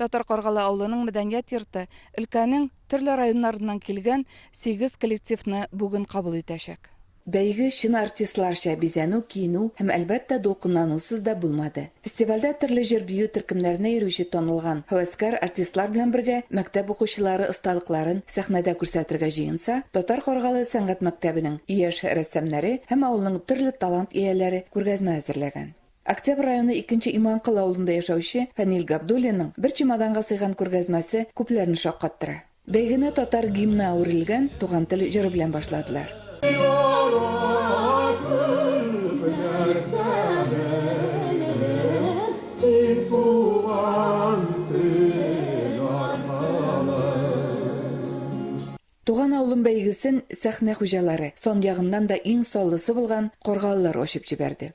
Татар Каргалы авылының мәдәният йорты өлкәнең төрле районнарыннан килгән сигез коллективны бүген кабул итәчәк. Бәйге чын артистларча бизәнү, киенү һәм, әлбәттә, дулкынланусыз да булмады. Фестивальдә төрле җыр-бию төркемнәренә йөрүче танылган һәвәскәр артистлар белән бергә мәктәп укучылары осталыкларын сәхнәдә күрсәтергә җыенса, Татар Каргалы сәнгать мәктәбенең яшь рәссамнәре һәм авылның төрле талант ияләре күргәзмә әзерләгән. Октябрь районы Икенче Иманкол авылында яшәүче Фәнил Габдуллинның бер чемоданга сыйган күргәзмәсе күпләрне шаккаттыра. Бәйгене татар гимны әверелгән Туган тел җыры белән башладылар. Туган авылым бәйгесен сәхнә хуҗалары, сан ягыннан да иң саллысы булган каргалылар ачып җибәрде.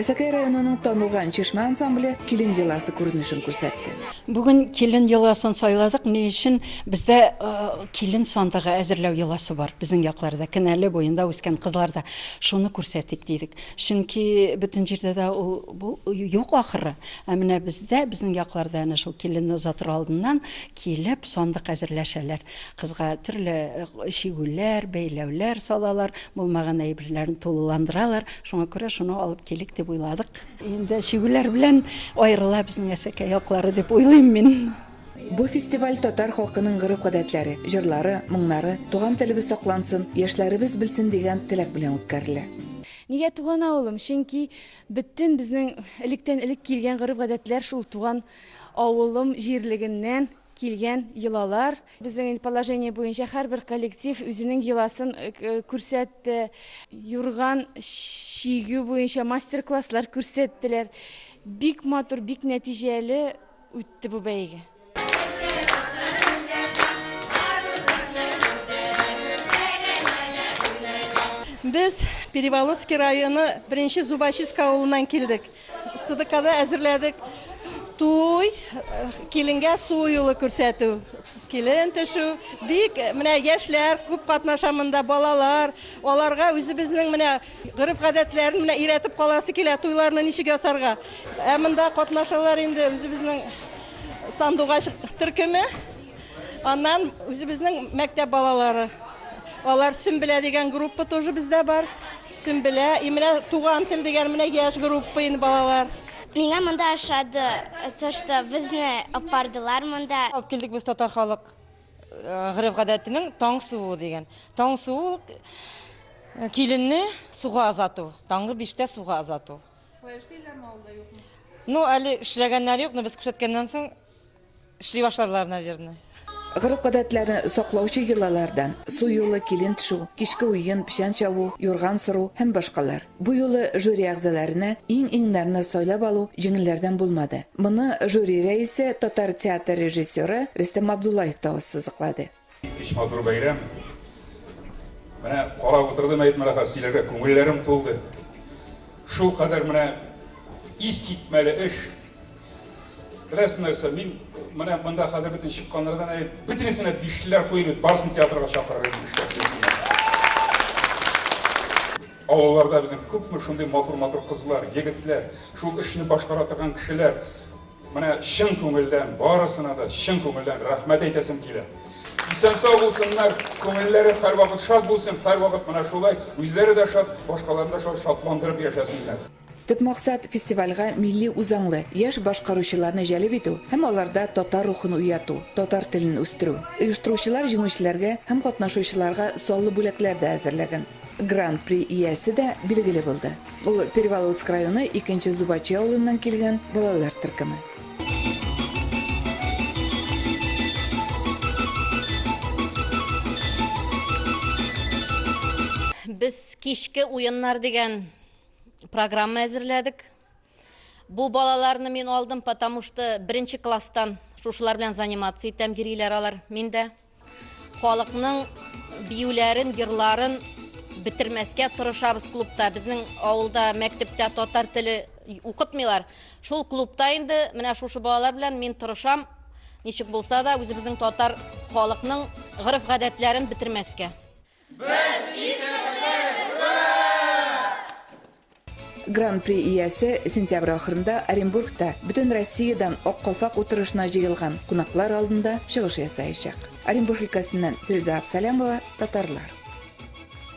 Әсәкәй районының танылган Чишмә ансамбле Килен еласы күренешен күрсәтте. Бүген Килен еласын сайладык. Ни өчен? Бездә Килен сандыгы әзерләү йоласы бар, безнең якларда, Кенәле буенда үскән кызларда. Шуны күрсәтик дидек. Чөнки бөтен җирдә дә ул юк ахры. Ә менә бездә, безнең якларда әнә шул Киленне озатыр алдыннан килеп, сандык әзерләшәләр. Кызга төрле чигүләр, бәйләүләр салалар, булмаган әйберләрен тулыландыралар. Шуңа күрә шуны алып килик дип уйладык. Инде чигүләр белән аерыла безнең әсәкәй яклары дип уйлыйм мин. Бу фестиваль татар халкының гореф-гадәтләре, җырлары, моңнары, туган телебез саклансын, яшьләребез белсен дигән теләк белән үткәрелә. Нигә туган авылым? Чөнки бөтен безнең электән-элек килгән гореф-гадәтләр шул туган авылым җирлегеннән Килгән йолалар. Безнең инде положение буенча һәрбер коллектив үзенең йоласын күрсәтте. Юрган чигү буенча мастер-класслар күрсәттеләр. Бик матур, бик нәтиҗәле үтте бу бәйге. Без Переволодский районы беренче Зубачиска авылыннан килдек. Сыдыкада әзерләдек туй, киленгә су юлы күрсәтү. Килен төшү, бик менә яшьләр күп катнаша монда, балалар. Аларга үзебезнең менә гореф-гадәтләрен менә өйрәтеп каласы килә, туйларны ничек ясарга. Ә монда катнашалар инде үзебезнең сандугач төркеме. Аннан үзебезнең мәктәп балалары. Алар Сөмбелә дигән группа тоже бездә бар. Сөмбелә, Имрә, Туган тел дигән менә яшь группа инде балалар. Миңа монда ошады, то что безне апардылар монда. Алып килдек без татар халык гореф-гадәтенең таң суы дигән. Таң суы ул киленне суга озату, таңгы биштә суга озату. Шулай эшлиләрме авылда, юкмы? Ну, әле эшләгәннәр юк, но без күрсәткәннән соң. Эшли башларлар, наверное. Гореф-гадәтләрне саклаучы йолалардан, су юлы, килен тшу, кичке уен, печән чабу, юрган сыру һәм башкалар. Бу юлы жюри әгъзаларына иң-иңнәрне сайлап алу җиңелләрдән булмады. Моны жюри рәисе, татар театр режиссеры Рөстәм Абдуллаев та ассызыклады. Иткеч матур бәйрәм. Менә карап утырдым әйтмә рәхәт сөйләргә, күңелләрем тулды. Шул кадәр менә ис китмәле эш. Беләсең нәрсә, мин менә монда хәзер бөтен чыкканнардан әле бөтенесенә бишлеләр куеп бит, барысын театрга чакырыр идем эшләп килсеннәр. Авылларда безнең күпме шундый матур-матур кызлар, егетләр, шул эшне башкара торган кешеләр. Менә чын күңелдән, барысына да чын күңелдән рәхмәт әйтәсем килә. Исән-сау булсыннар, күңелләре һәрвакыт шат булсын, һәрвакыт менә шулай үзләре дә шат, башкаларны да шулай шатландырып яшәсеннәр. Төп максат, фестивальгә милли үзаңлы, яшь башкаручыларны җәлеп итү һәм аларда татар рухын уяту, татар телен үстерү. Оештыручылар җиңүчеләргә һәм катнашучыларга саллы бүләкләр дә әзерләгән. Гран-при иясе дә билгеле булды. Ул Переволодск районы икенче Зубачи авылыннан килгән балалар төркеме. Без кичке уеннар дигән программа әзерләдек. Бу балаларны мин алдым, потому что беренче класстан шушылар белән заниматься итәм, йөриләр алар миндә. Халыкның биюләрен, йырларын бетермәскә тырышабыз клубта. Безнең авылда, мәктәптә татар теле укытмыйлар. Шул клубта инде менә шушы балалар белән мин тырышам, ничек булса да үзебезнең татар халыкның гореф-гадәтләрен бетермәскә. Без ишеттек! Гран-при иясе сентябрь ахырында Оренбургта бөтен Россиядән Ак калфак утырышына җыелган кунаклар алдында чыгыш ясаячак. Оренбург өлкәсеннән Фирүзә Абсалямова, татарлар.